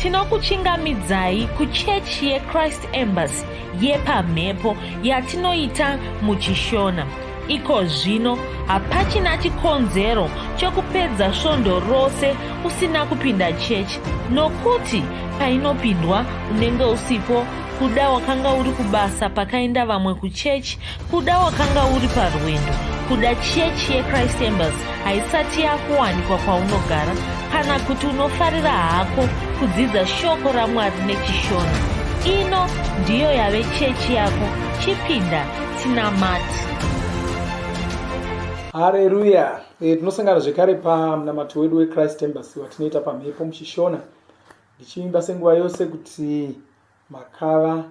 tinokuchingamidzai kuchechi yechrist embassy yepamhepo yatinoita muchishona iko zvino hapachina chikonzero chokupedza svondo rose usina kupinda chechi nokuti painopindwa unenge usipo kuda wakanga uri kubasa pakaenda vamwe kuchechi Kuda wakanga uri parwendo, kuda chechi yechrist embers haisati yakuwanikwa kwaunogara kana kuti unofarira hako kudzidza shoko ramwari nechishona ino ndiyo yave chechi yako chipinda tinamati hareruya eh, tinosangana zvekare pamunamato wedu wechrist embers watinoita pamhepo muchishona ndichiimba senguva yose kuti Makava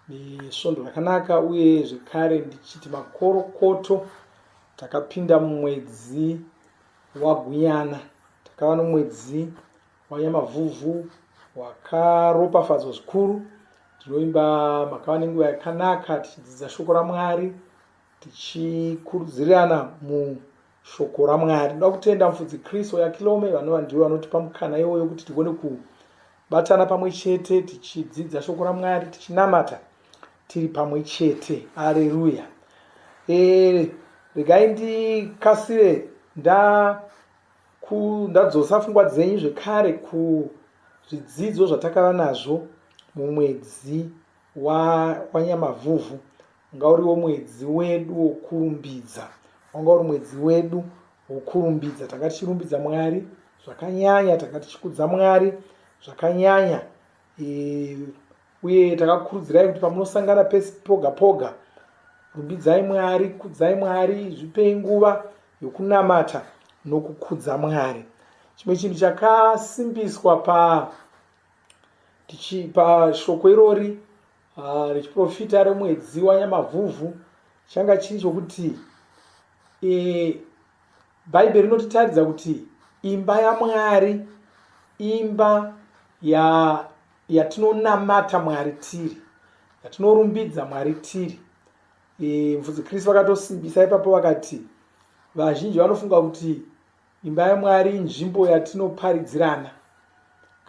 nesvondo rakanaka uye zvekare ndichiti makorokoto takapinda mumwedzi wagunyana takava nomwedzi wanyamavhuvhu wakaropafadzwa zvikuru tinoimba makava nenguva yakanaka tichidzidza shoko ramwari tichikurudzirirana mushoko ramwari ndoda kutenda mufudzi kristu yakilome vanova ndivo vanotipa mukana iwoyo kuti tigone ku Batana pamwe chete tichidzidza shoko raMwari tichinamata tiri pamwe chete. Haleluya. Eh, regai ndikasire nda ku ndadzosa pfungwa dzenyu zvekare kuzvidzidzo zvatakava nazvo mumwedzi wanyamavhuvhu Wanga uriwo mwedzi wedu wokurumbidza. Wanga uri mwedzi wedu wokurumbidza. Tanga tichirumbidza Mwari zvakanyanya, tanga tichikudza Mwari zvakanyanya. E, uye takakurudzirai kuti pamunosangana pesi poga poga, rumbidzai Mwari, kudzai Mwari, zvipei nguva yokunamata nokukudza Mwari. Chimwe chinhu chakasimbiswa pa tichi pashoko irori Ah, rechiprofita remwedzi wanyamavhuvhu changa chiri chokuti e, bhaibheri rinotitaridza kuti imba yamwari imba yatinonamata ya mwari tiri yatinorumbidza mwari tiri e, mfudzi kristu vakatosimbisa ipapo vakati vazhinji vanofunga kuti imba yamwari inzvimbo yatinoparidzirana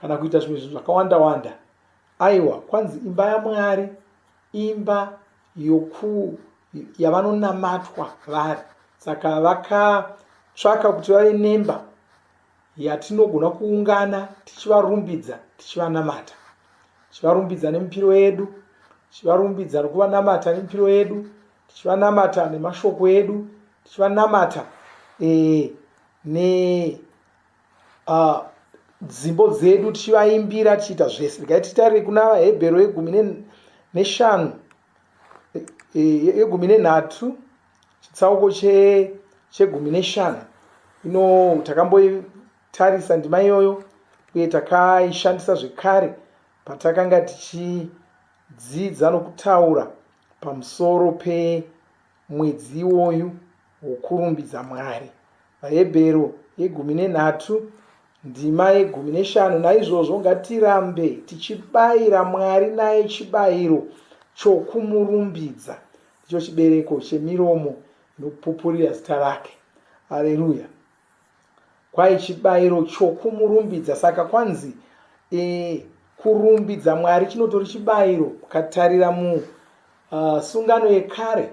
kana kuita zvimwe zvinhu zvakawanda wanda Aiwa, kwanzi imba yaMwari imba yoku yavanonamatwa vari. Saka vakatsvaka kuti vave nemba yatinogona kuungana tichivarumbidza tichivanamata tichivarumbidza nemipiro yedu tichivarumbidza nokuvanamata nemipiro yedu tichivanamata nemashoko edu tichivanamata e, ne uh, dzimbo dzedu tichivaimbira tichiita zvese regai titarire kuna vahebhero yegumi neshanu e, yegumi nenhatu chitsauko chegumi neshanu ino takamboitarisa ndima iyoyo uye takaishandisa zvekare patakanga tichidzidza nokutaura pamusoro pe mwedzi iwoyu wokurumbidza Mwari. VaHebheru yegumi nenhatu ndima yegumi neshanu naizvozvo ngatirambe tichibayira mwari naye chibayiro chokumurumbidza ndicho chibereko chemiromo inopupurira zita rake aleluya Kwahi chibairo chokumurumbidza. Saka kwanzi e, kurumbidza Mwari chinotori chibairo. Ukatarira musungano ah, uh, yekare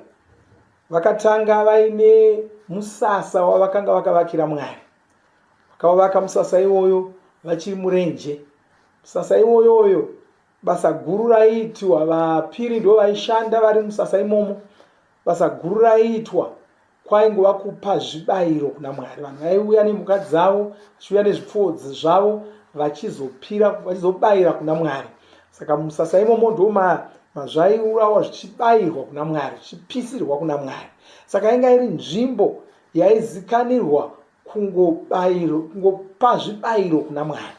vakatanga vaine musasa wavakanga vakavakira Mwari. Vakavavaka musasa iwoyo vachiri murenje. Musasa iwoyoyo basa guru raiitwa vapiri ndo vaishanda vari musasa imomo basa guru raiitwa kwaingova kupa zvibayiro kuna mwari vanhu vaiuya nemhuka dzavo vachiuya nezvipfuwo zvavo vachizopira vachizobayira kuna mwari saka musasa imomo ndo mazvaiurawa zvichibayirwa kuna mwari zvichipisirwa kuna mwari saka inga iri nzvimbo yaizikanirwa kungobayiro kungopa zvibayiro kuna mwari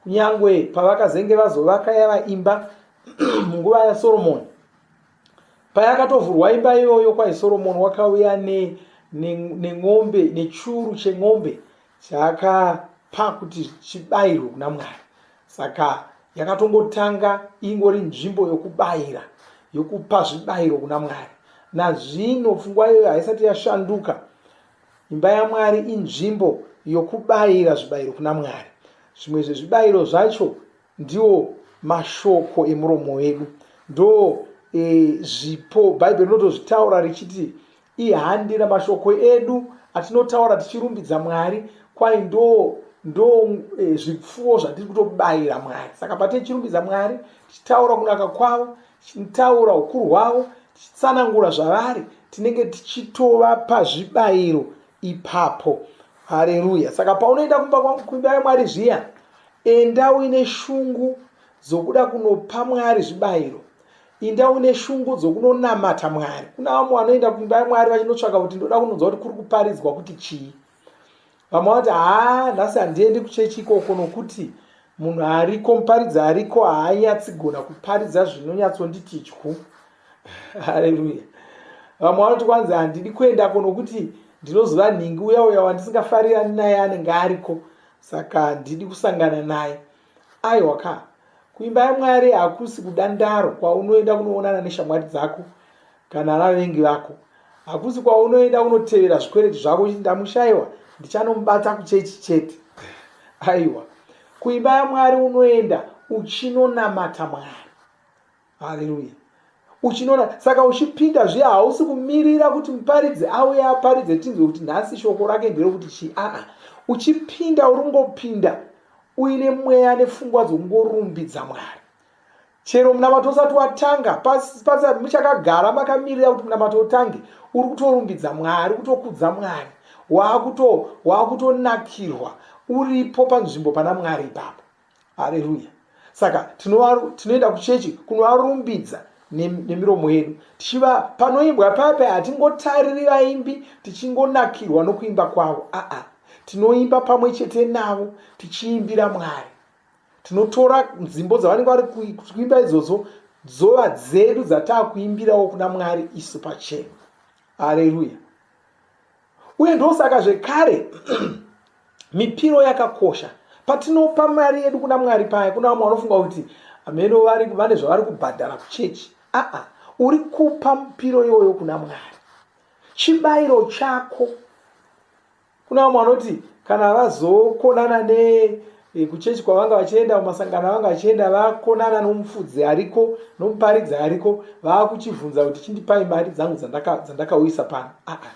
kunyange pavakazenge vazovaka yava imba munguva yasoromoni payakatovhurwa imba iyoyo kwaisoromoni wakauya nen'ombe ne, ne nechuru chen'ombe chaakapa kuti chibayirwe kuna mwari saka yakatongotanga ingori nzvimbo yokubayira yokupa zvibayiro kuna mwari nazvino pfungwa iyoyo haisati yashanduka imba yamwari inzvimbo yokubayira zvibayiro kuna mwari zvimwe zvezvibayiro zvacho Ndiwo mashoko emuromo wedu. Ndo e, zvipo. Bhaibheri rinotozvitaura richiti ihandi ramashoko edu atinotaura tichirumbidza Mwari kwai ndo ndo e, zvipfuwo zvatiri kutobayira Mwari. Saka patine chirumbidza Mwari tichitaura kunaka kwavo, tichitaura ukuru hwavo, tichitsanangura zvavari, tinenge tichitovapa zvibayiro ipapo. hareruya saka paunoenda kumba kwangu kuimba yamwari zviya enda uine shungu dzokuda kunopa mwari zvibayiro inda uine shungu dzokunonamata mwari kuna vamwe vanoenda kuimba yamwari vachinotsvaka kuti ndoda kunonzwa kuti kuri kuparidzwa kuti chii vamwe vanoti haa nhasi handiendi kuchechi ikoko nokuti munhu ariko muparidzi ariko haanyatsigona kuparidza zvinonyatsonditi dyu haleluya vamwe vanoti kwanzi handidi kuendako nokuti ndinoziva nhingi uya uya wandisingafarirani naye anenge ariko saka handidi kusangana naye aiwa ka kuimba yamwari hakusi kudandaro kwaunoenda kunoonana neshamwari dzako kana vavengi vako hakusi kwaunoenda kunotevera zvikwereti zvako chiti ndamushaiwa ndichanomubata kuchechi chete aiwa kuimba yamwari unoenda uchinonamata mwari haleluya uchinona saka uchipinda zviya hausi kumirira kuti muparidzi auye aparidze tinzwe kuti nhasi shoko rake nderokuti chii aa uchipinda uringopinda uine mweya nepfungwa dzokungorumbidza mwari chero munamato usati watanga pasati muchakagara makamirira kuti munamato utange uri kutorumbidza mwari kutokudza mwari waakutonakirwa uripo panzvimbo pana mwari ipapo haleluya saka tinoenda kuchechi kunovarumbidza nemiromo yedu tichiva panoimbwa pape hatingotariri vaimbi tichingonakirwa nokuimba kwavo aa tinoimba pamwe chete navo tichiimbira mwari tinotora nzimbo dzavanenge vari kuimba idzodzo dzova dzedu dzataakuimbirawo kuna mwari isu pachena haleluya uye ndosaka zvekare mipiro yakakosha patinopa mari yedu kuna mwari paya kuna vamwe vanofunga kuti hameno vane zvavari kubhadhara kuchechi aa uri kupa mupiro iyoyo kuna mwari chibayiro chako kuna vamwe vanoti kana vazokonana ne e, kuchechi kwavanga vachienda kumasangano avanga vachienda vakonana nomufudzi ariko nomuparidzi ariko vaakuchivhunza kuti chindipai mari dzangu dzandakauyisa pano aa ah, ah.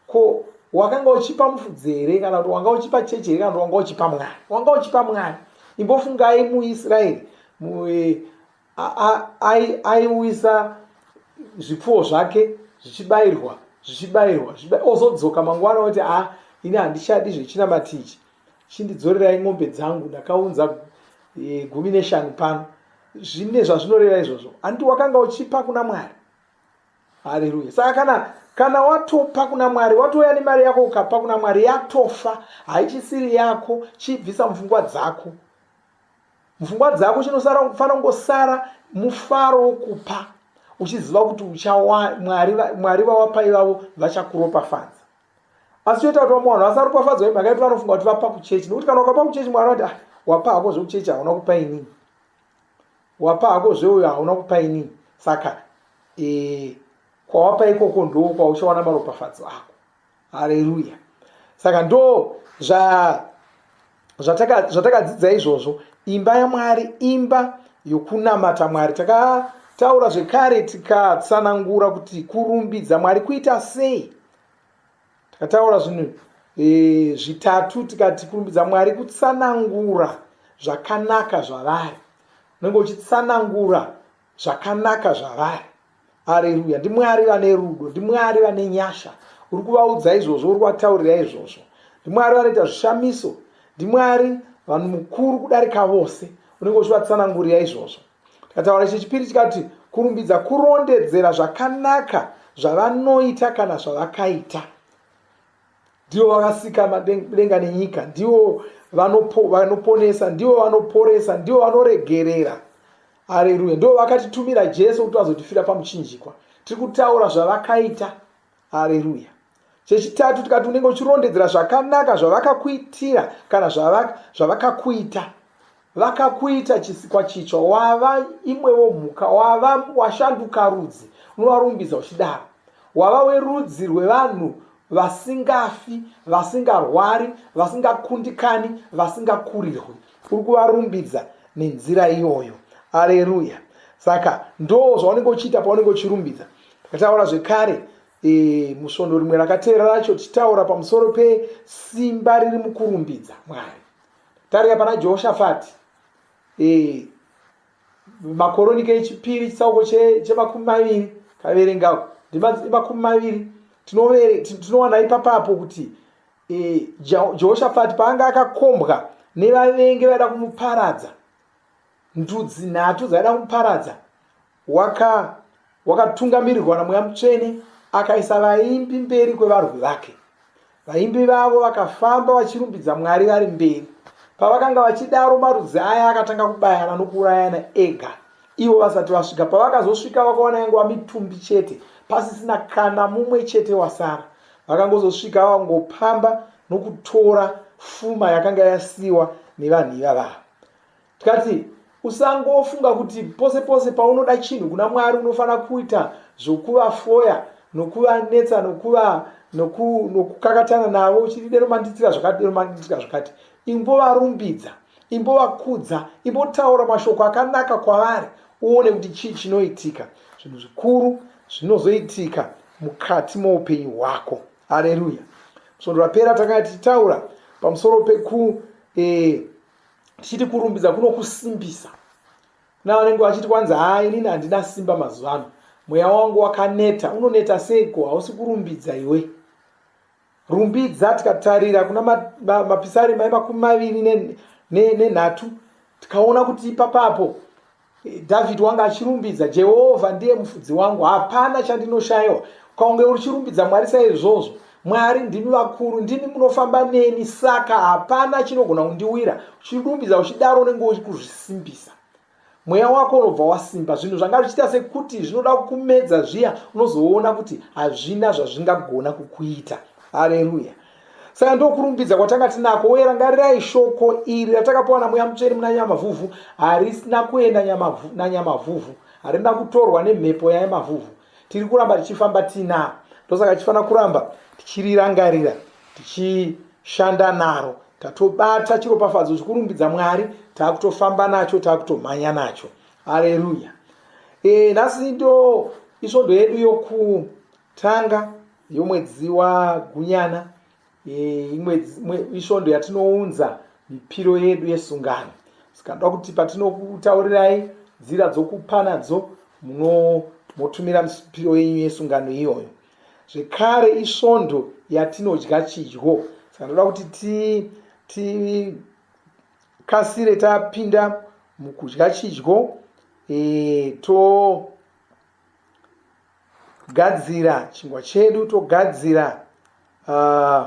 ko wakanga uchipa mufudzi here kana kuti wanga uchipa chechi here kana kuti wanga uchipa mwari wanga uchipa mwari imbofungai muisraeri e, aiuyisa zvipfuwo zvake zvichibayirwa zvichibayirwa ozodzoka mangwana oti a ah, ini handichadi zvechinamatichi chindidzorerai mombe dzangu ndakaunza e, gumi neshanu pano zvine zvazvinoreva izvozvo andi wakanga uchipa kuna mwari haleluya saka kana kana watopa kuna mwari watouya nemari yako ukapa kuna mwari yatofa haichisiri yako chibvisa mupfungwa dzako mupfungwa dzako chinosara kufanira kungosara mufaro wokupa uchiziva kuti uchawa mwari mwari vawapa ivavo vachakuropafadza asi choita kuti vamwe vanhu vasaropafadzwa nemhaka yekuti vanofunga kuti vapa kuchechi nekuti kana ukapa kuchechi mwari vati ah, wapa hako zvekuchechi hauna kupa inii wapa hako zveuyo hauna kupa inii saka e, kwawapa ikoko ndoo kwauchawana maropafadzo ako hareruya saka ndo zva zvatakadzidza zvataka izvozvo imba yamwari imba yokunamata mwari takataura zvekare tikatsanangura kuti kurumbidza mwari kuita sei takataura zvinhu e, zvitatu tikati kurumbidza mwari kutsanangura zvakanaka zvavari unenge uchitsanangura zvakanaka zvavari areruya ndimwari vane rudo ndimwari vane nyasha uri kuvaudza izvozvo uri kuvataurira izvozvo ndimwari vanoita zvishamiso ndimwari vanhu mukuru kudarika vose unenge uchivatsanangurira izvozvo tikataura ichi chipiri tikati kurumbidza kurondedzera zvakanaka zvavanoita kana zvavakaita ndivo vakasika madenga nenyika ndivo vanoponesa ndivo vanoporesa ndivo vanoregerera hareruya ndivo vakatitumira jesu kuti vazotifira pamuchinjikwa tiri kutaura zvavakaita hareruya chechitatu tikati unenge uchirondedzera zvakanaka zvavakakuitira kana zvavakakuita Vakakuita chisikwa chitsva, wava imwewo mhuka, wava washanduka rudzi, unovarumbidza uchidaro. Wava werudzi rwevanhu vasingafi, vasingarwari, vasingakundikani, vasingakurirwi. Uri kuvarumbidza nenzira iyoyo. Aleluya! Saka ndo zvaunenge uchiita paunenge uchirumbidza. Takataura zvekare e, musvondo rimwe rakateera racho tichitaura pamusoro pesimba riri mukurumbidza Mwari. Tarira pana Jehoshafati eh, makoronika echipiri chitsauko chemakumi maviri kaverengawo ndimakumi maviri tinowana ipapapo kuti eh, Jehoshafati paanga akakombwa nevavengi vaida kumuparadza ndudzi nhatu dzaida kumuparadza waka wakatungamirirwa namweya mutsvene akaisa vaimbi mberi kwevarwi vake vaimbi vavo vakafamba vachirumbidza mwari vari mberi pavakanga vachidaro marudzi aya akatanga kubayana nokuurayana ega ivo vasati vasvika pavakazosvika vakaona yangova mitumbi chete pasisina kana mumwe chete wasara vakangozosvika vangopamba nokutora fuma yakanga yasiwa nevanhu ivavavo tikati usangofunga kuti pose pose paunoda chinhu kuna mwari unofanira kuita zvokuvafoya nokuvanetsa nokuva nokukakatana navo uchiti dero mandiitira zvakati dero mandiitira zvakati imbovarumbidza imbovakudza imbotaura mashoko akanaka kwavari uone kuti chii chinoitika zvinhu zvikuru zvinozoitika mukati moupenyu hwako aleluya svondo rapera takanga tichitaura pamusoro pekuita eh, tichiti kurumbidza kunokusimbisa kuna vanenge vachiti kwanzi haa inini handina simba mazuva ano mweya wangu wakaneta unoneta seiko hausi kurumbidza iwe rumbidza tikatarira kuna mapisari ma, ma, mai makumi maviri nenhatu ne, ne tikaona kuti ipapapo Dhavhidhi wanga achirumbidza, Jehovha ndiye mufudzi wangu, hapana chandinoshayiwa. Kwaunge uchirumbidza Mwari saizvozvo, Mwari ndimi vakuru, ndimi munofamba neni, saka hapana chinogona kundiwira. Uchirumbidza uchidaro unenge uchikuzvisimbisa mweya wako unobva wasimba zvinhu zvanga zvichiita sekuti zvinoda kumedza zviya unozoona kuti hazvina zvazvingagona kukuita hareruya saka ndokurumbidza kwatanga tinako uye rangarirai shoko iri ratakapiwa namweya mutsveni muna nyamavhuvhu harisina kuenda nanyamavhuvhu harina kutorwa nemhepo yanyamavhuvhu tiri kuramba tichifamba tinaro ndosaka tichifanira kuramba tichirirangarira tichishanda naro tatobata chiropafadzo chikurumbidza mwari taakutofamba nacho taakutomhanya nacho aleluya e, nhasi ndo isvondo yedu yokutanga yomwedzi wagunyana isvondo yatinounza mipiro yedu yesungano saka ndoda kuti patinokutaurirai nzira dzokupa nadzo motumira mipiro yenyu yesungano iyoyo zvekare isvondo yatinodya chidyo saka ndoda kuti tikasire tapinda mukudya chidyo eh, to Gadzira chingwa chedu togadzira uh,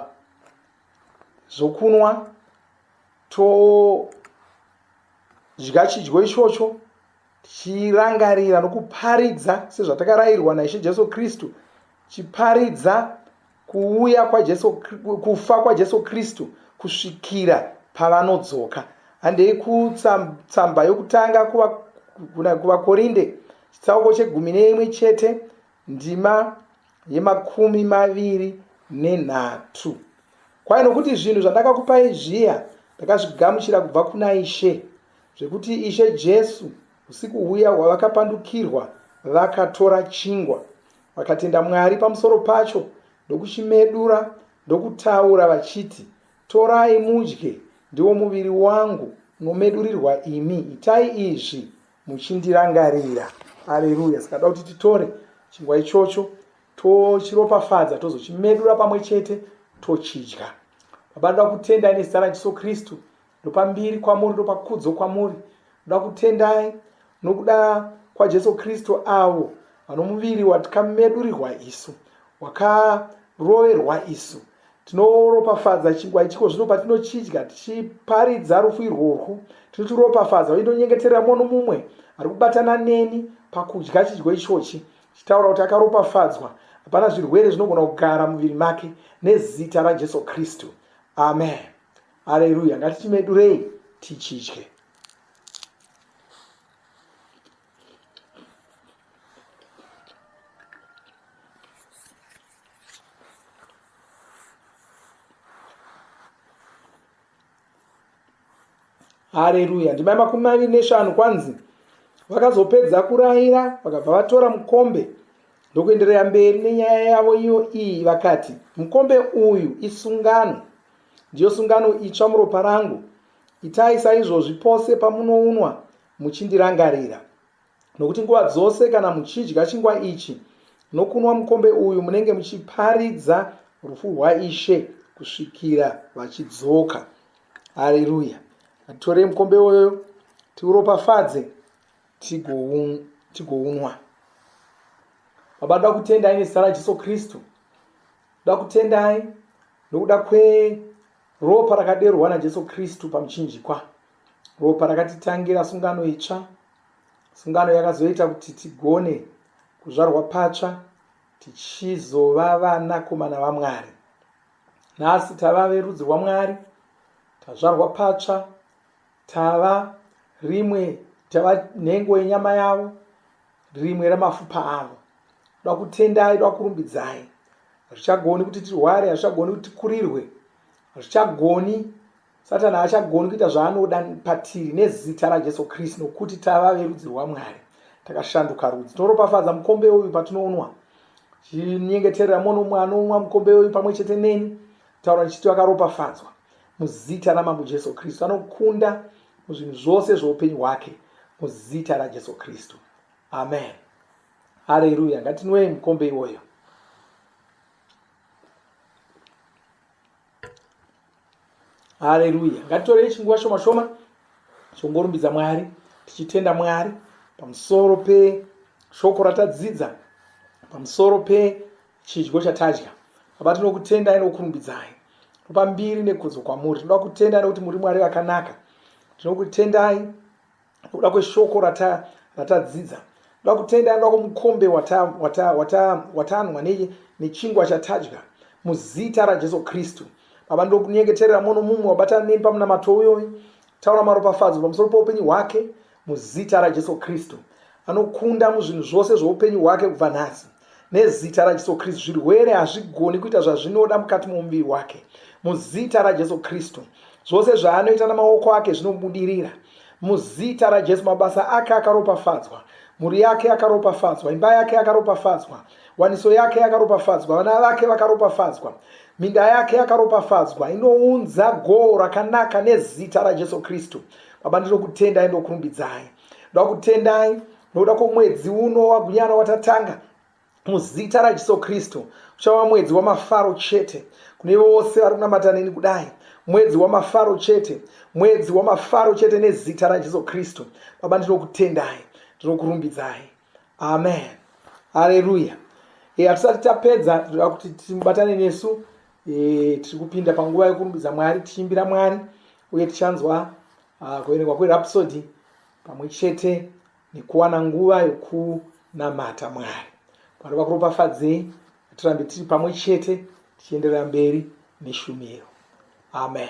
zvokunwa todya chidyo ichocho tichirangarira nokuparidza sezvatakarairwa naishe jesu kristu chiparidza kuuya kwajesu kufa kwajesu kristu kusvikira pavanodzoka handei kutsamba yokutanga kuvakorinde chitsauko chegumi neimwe chete ndima yemakumi maviri nenhatu kwai nokuti zvinhu zvandakakupai zviya ndakazvigamuchira kubva kuna ishe zvekuti ishe jesu usiku huya hwavakapandukirwa vakatora chingwa Vakatenda Mwari pamusoro pacho ndokuchimedura ndokutaura vachiti, Torai mudye, ndiwo muviri wangu unomedurirwa imi, itai izvi muchindirangarira. Aleluya! Saka da kuti titore chingwa ichocho tochiropafadza tozochimedura pamwe chete tochidya. Baba, ndoda kutenda nezita raJesu Kristu ndopambiri kwamuri ndopakudzo kwamuri ndoda kutendai nokuda kwajesu kristu avo vanomuviri watikamedurirwa isu wakaroverwa isu tinoropafadza chingwa ichiko zvino patinochidya tichiparidza rufu irworwu tinochiropafadza uye ndonyengeterera mumwe nomumwe ari kubatana neni pakudya chidyo ichochi chitaura kuti akaropafadzwa hapana zvirwere zvinogona kugara muviri make nezita rajesu kristu amen Haleluya, ngatichimedurei tichidye. hareruya ndimai makumi maviri neshanu kwanzi vakazopedza kurayira vakabva vatora mukombe ndokuenderera mberi nenyaya yavo iyo iyi vakati mukombe uyu isungano Ndiyo sungano itsva muropa rangu. Itai saizvozvi pose pamunounwa muchindirangarira. Nokuti nguva dzose kana muchidya chingwa ichi nokunwa mukombe uyu munenge muchiparidza rufu rwaishe kusvikira vachidzoka. Haleluya. Atitorei mukombe uyoyo tiuropafadze tigounwa. Baba, ndoda kutenda ine zita raJesu Kristu. Ndoda kutendai nokuda kweropa rakaderwa naJesu Kristu pamuchinjikwa, ropa rakatitangira sungano itsva, sungano yakazoita kuti tigone kuzvarwa patsva tichizova vanakomana vaMwari. Nhasi tava verudzi rwaMwari, tazvarwa patsva, tava rimwe, tava nhengo yenyama yavo, rimwe ramafupa avo toda kutendai toda kurumbidzai hazvichagoni kuti tirware hazvichagoni kuti tikurirwe hazvichagoni satani haachagoni kuita zvaanoda patiri nezita rajesu kristu nokuti tava verudzi rwamwari takashanduka rudzi tinoropafadza mukombe uyu patinoonwa chinyengeterera mwono umwe anoonwa mukombe uyu pamwe chete neni taura ndichiti vakaropafadzwa muzita ramambo jesu kristu anokunda muzvinhu zvose zveupenyu hwake muzita rajesu kristu amen hareruya ngatinwei mukombe iwoyo hareruya ngatitorei chinguva shoma shoma chongorumbidza mwari tichitenda mwari pamusoro peshoko ratadzidza pamusoro pe chidyo chatadya baba tinokutendai nokukurumbidzai topa mbiri nekudzo kwamuri tinoda kutendai nekuti muri mwari vakanaka tinokutendai nokuda kweshoko ratadzidza tinoda kutendai nokuda kwemukombe watanwa nechingwa chatadya muzita rajesu kristu baba ndokunyengeterera mono mumwe wabatana nemi pamunamato uyoyi taura maropafadzo pamusoro poupenyu hwake Muzita raJesu Kristu. Anokunda muzvinhu zvose zvoupenyu hwake kubva nhasi. Nezita raJesu Kristu zvirwere hazvigoni kuita zvazvinoda mukati momuviri wake. Muzita raJesu Kristu zvose zvaanoita namaoko ake zvinobudirira. Muzita raJesu mabasa ake akaropafadzwa. Mhuri yake yakaropafadzwa, imba yake yakaropafadzwa, waniso yake yakaropafadzwa, vana vake vakaropafadzwa, minda yake yakaropafadzwa, inounza goho rakanaka nezita raJesu Kristu. baba ndinokutendai ndokurumbidzai ndoda kutendai nokuda kwomwedzi uno wagunyana watatanga muzita rajesu kristu uchava mwedzi wamafaro chete kune vose vari kunamata neni kudai mwedzi wamafaro chete mwedzi wamafaro chete nezita rajesu kristu baba ndinokutendai ndinokurumbidzai amen hareruya e, hatisati tapedza tinoda kuti timubatane nesu e, tiri kupinda panguva yekurumbidza mwari tichiimbira mwari uye tichanzwa uh, kuverengwa kwerapsodi pamwe chete nekuwana nguva yokunamata mwari mwari vakuropafadzei tirambe tiri pamwe chete tichienderera mberi neshumiro amen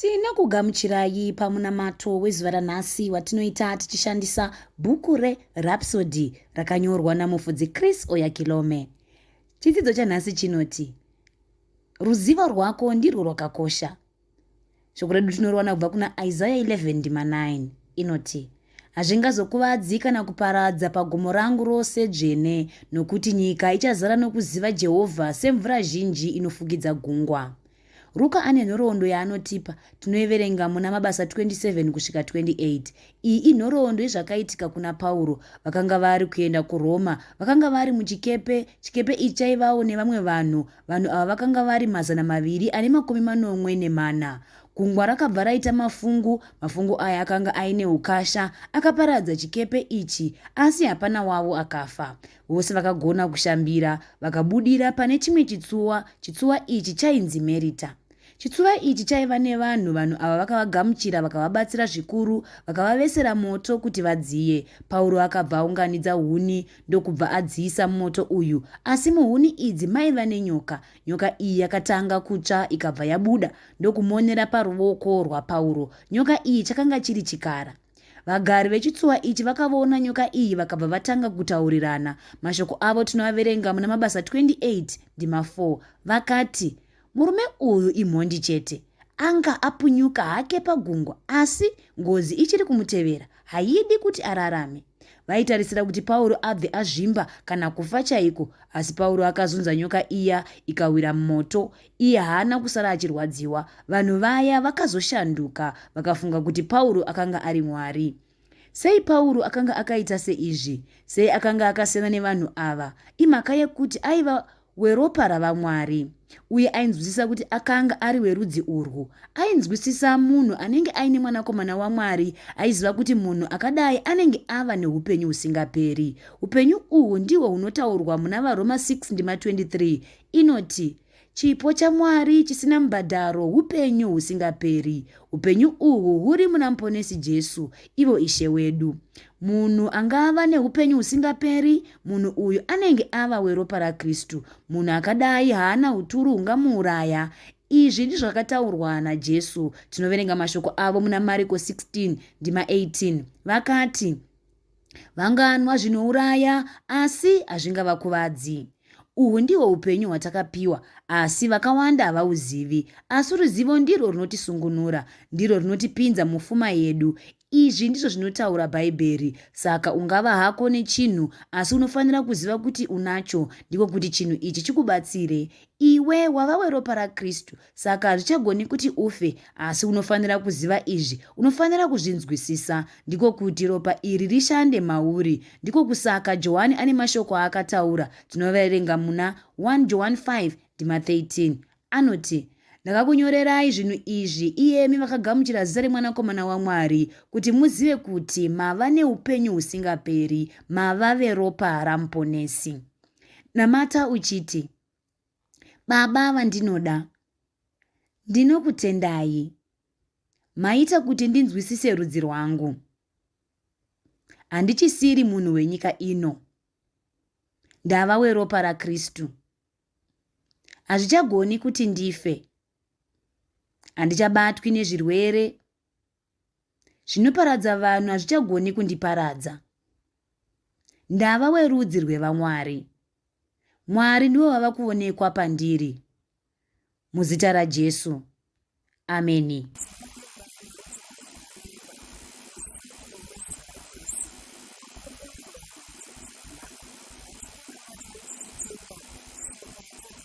Tinokugamuchirai pamunamato wezuva ranhasi watinoita tichishandisa bhuku reRhapsody rakanyorwa namufudzi Chris Oyakilome. Chidzidzo chanhasi chinoti ruzivo rwako ndirwo rwakakosha. Shoko redu tinoriwana kubva kuna Isaya 11 ndima 9 inoti hazvingazokuvadzi kana kuparadza pagomo rangu rose dzvene nokuti nyika ichazara nokuziva Jehovha semvura zhinji inofukidza gungwa. Ruka ane nhoroondo yaanotipa tinoiverenga muna Mabasa 27 kusvika 28. Iyi inhoroondo yezvakaitika kuna Pauro. Vakanga vari kuenda kuRoma, vakanga vari muchikepe, chikepe ichi chaivawo nevamwe vanhu. Vanhu ava vakanga vari mazana maviri ane makumi manomwe nemana. Gungwa rakabva raita mafungu, mafungu aya akanga aine ukasha, akaparadza chikepe ichi, asi hapana wavo akafa. Vose vakagona kushambira vakabudira pane chimwe chitsuwa, chitsuwa ichi chainzi Merita. Chitsuva ichi chaiva nevanhu, vanhu ava vakavagamuchira vakavabatsira zvikuru, vakavavesera moto kuti vadziye. Pauro akabva aunganidza huni ndokubva adziisa mumoto uyu, asi muhuni idzi maiva nenyoka. Nyoka iyi yakatanga kutsva ikabva yabuda ndokumonera paruoko rwaPauro. Nyoka iyi chakanga chiri chikara. Vagari vechitsuwa ichi vakavoona nyoka iyi vakabva vatanga kutaurirana. Mashoko avo tinoaverenga muna Mabasa 28 ndima 4 vakati, Murume uyu imhondi chete. Anga apunyuka hake pagungwa asi ngozi ichiri kumutevera, haidi kuti ararame. Vaitarisira kuti Pauro abve azvimba kana kufa chaiko, asi Pauro akazunza nyoka iya ikawira mumoto Iye haana kusara achirwadziwa. Vanhu vaya vakazoshanduka, vakafunga kuti Pauro akanga ari mwari. Sei Pauro akanga akaita seizvi? Sei akanga akasiyana nevanhu ava? Imhaka yekuti aiva weropa raVamwari, uye ainzwisisa kuti akanga ari werudzi urwu. Ainzwisisa munhu anenge aine Mwanakomana waMwari, aiziva kuti munhu akadai anenge ava neupenyu husingaperi. Upenyu uhwu ndihwo hunotaurwa muna vaRoma 6 ndima 23, inoti, Chipo chaMwari chisina mubhadharo hupenyu husingaperi. Hupenyu uhu huri muna Muponesi Jesu, ivo Ishe wedu. Munhu angava nehupenyu husingaperi, munhu uyu anenge ava weropa raKristu. Munhu akadai haana uturu hungamuuraya. Izvi ndizvo zvakataurwa naJesu. Tinoverenga mashoko avo muna Mariko 16, ndima 18. Vakati, Vanganwa zvinouraya, asi hazvingavakuvadzi. Uhwu ndihwo upenyu hwatakapiwa, asi vakawanda havauzivi. Asi ruzivo ndirwo runotisungunura, ndirwo runotipinza mufuma yedu. Izvi ndizvo zvinotaura Bhaibheri. Saka ungava hako nechinhu, asi unofanira kuziva kuti unacho, ndiko kuti chinhu ichi chikubatsire. Iwe wava weropa raKristu, Saka hazvichagoni kuti ufe, asi unofanira kuziva izvi, unofanira kuzvinzwisisa, ndiko kuti ropa iri rishande mauri. Ndiko kusaka Johani ane mashoko aakataura, tinoverenga muna 1 Johani 5 ndima 13. Anoti, Ndakakunyorerai zvinhu izvi, iyemi vakagamuchira zita reMwanakomana waMwari, kuti muzive kuti mava neupenyu husingaperi, mava veropa raMuponesi. Namata uchiti. Baba vandinoda, ndinokutendai. Maita kuti ndinzwisise rudzi rwangu. Handichisiri munhu wenyika ino. Ndava weropa raKristu. Hazvichagoni kuti ndife. Handichabatwi nezvirwere Zvinoparadza vanhu hazvichagoni kundiparadza. Ndava werudzi rwevamwari. Mwari ndivo vava kuonekwa pandiri. Muzita raJesu. Ameni.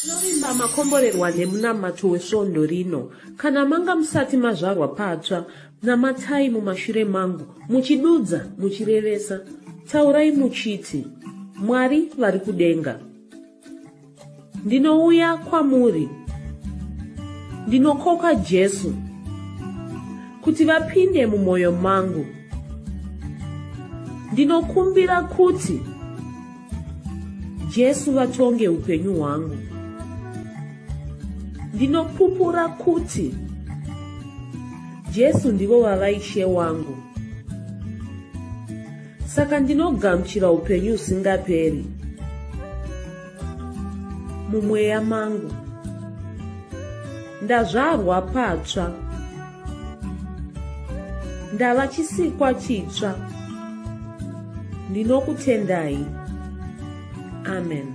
Tinovimba makomborerwa nemunamato wesvondo rino. Kana manga musati mazvarwa patsva, namatai mumashure mangu, muchidudza, muchirevesa. Taurai muchiti, Mwari vari kudenga. Ndinouya kwamuri. Ndinokoka Jesu kuti vapinde mumwoyo mangu. Ndinokumbira kuti Jesu vatonge upenyu hwangu. Ndinopupura kuti Jesu ndivo vava ishe wangu. Saka ndinogamuchira upenyu usingaperi mumweya mangu. Ndazvarwa patsva. ndava chisikwa chitsva ndinokutendai amen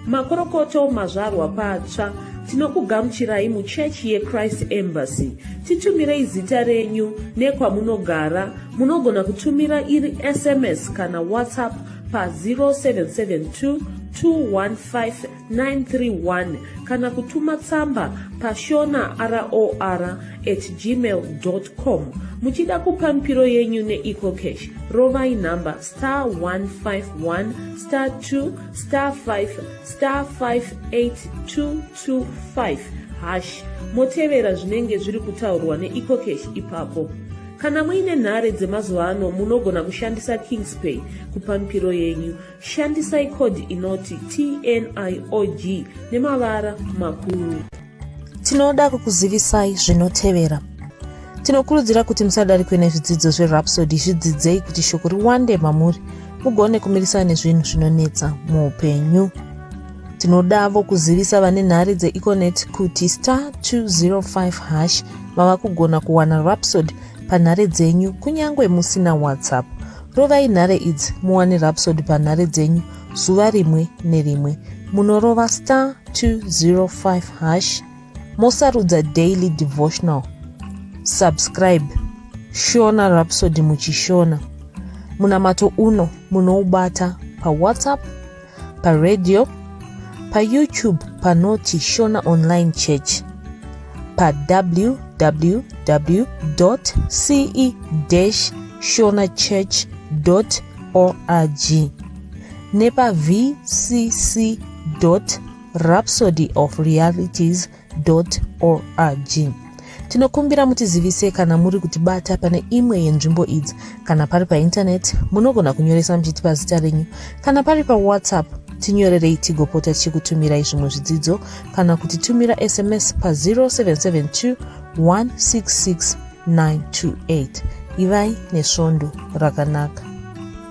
makorokoto mazvarwa patsva tinokugamuchirai muchechi yechrist embassy titumirei zita renyu nekwamunogara munogona kutumira iri sms kana whatsapp pa 0772 215 931 kana kutuma tsamba pashona ror at gmail com muchida kupa mipiro yenyu neecocash rovai nhamba star 151 star 2 star 5 star 58225 hash motevera zvinenge zviri kutaurwa neecocash ipapo kana muine nhare dzemazuva ano munogona kushandisa kingspay kupa mipiro yenyu Shandisai code inoti TNIOG nemavara makuru. Tinoda kukuzivisai zvinotevera. Tinokurudzira kuti musadarikwe nezvidzidzo zveRhapsody zvidzidzei kuti shoko riwande mamuri mugone kumirisana nezvinhu zvinonetsa muupenyu. Tinodavo kuzivisa vane nhare dzeEconet kuti star 205 hash mava kugona kuwana Rhapsody panhare dzenyu kunyange musina WhatsApp. Rovai nhare idzi muwane rapsod panhare dzenyu zuva rimwe nerimwe. Munorova star 205 hash mosarudza daily devotional. Subscribe Shona Rhapsody muchishona. Munamato uno munoubata pawhatsapp paradio payoutube panoti shona online church pawww ce shona church org nepavcc rhapsody of realities org tinokumbira mutizivise kana muri kutibata pane imwe yenzvimbo idzi kana pari paintaneti munogona kunyoresa muchiti pazita renyu kana pari pawhatsapp tinyorerei tigopota tichikutumirai zvimwe zvidzidzo kana kuti tumira sms pa0772 166 928 ivai nesvondo rakanaka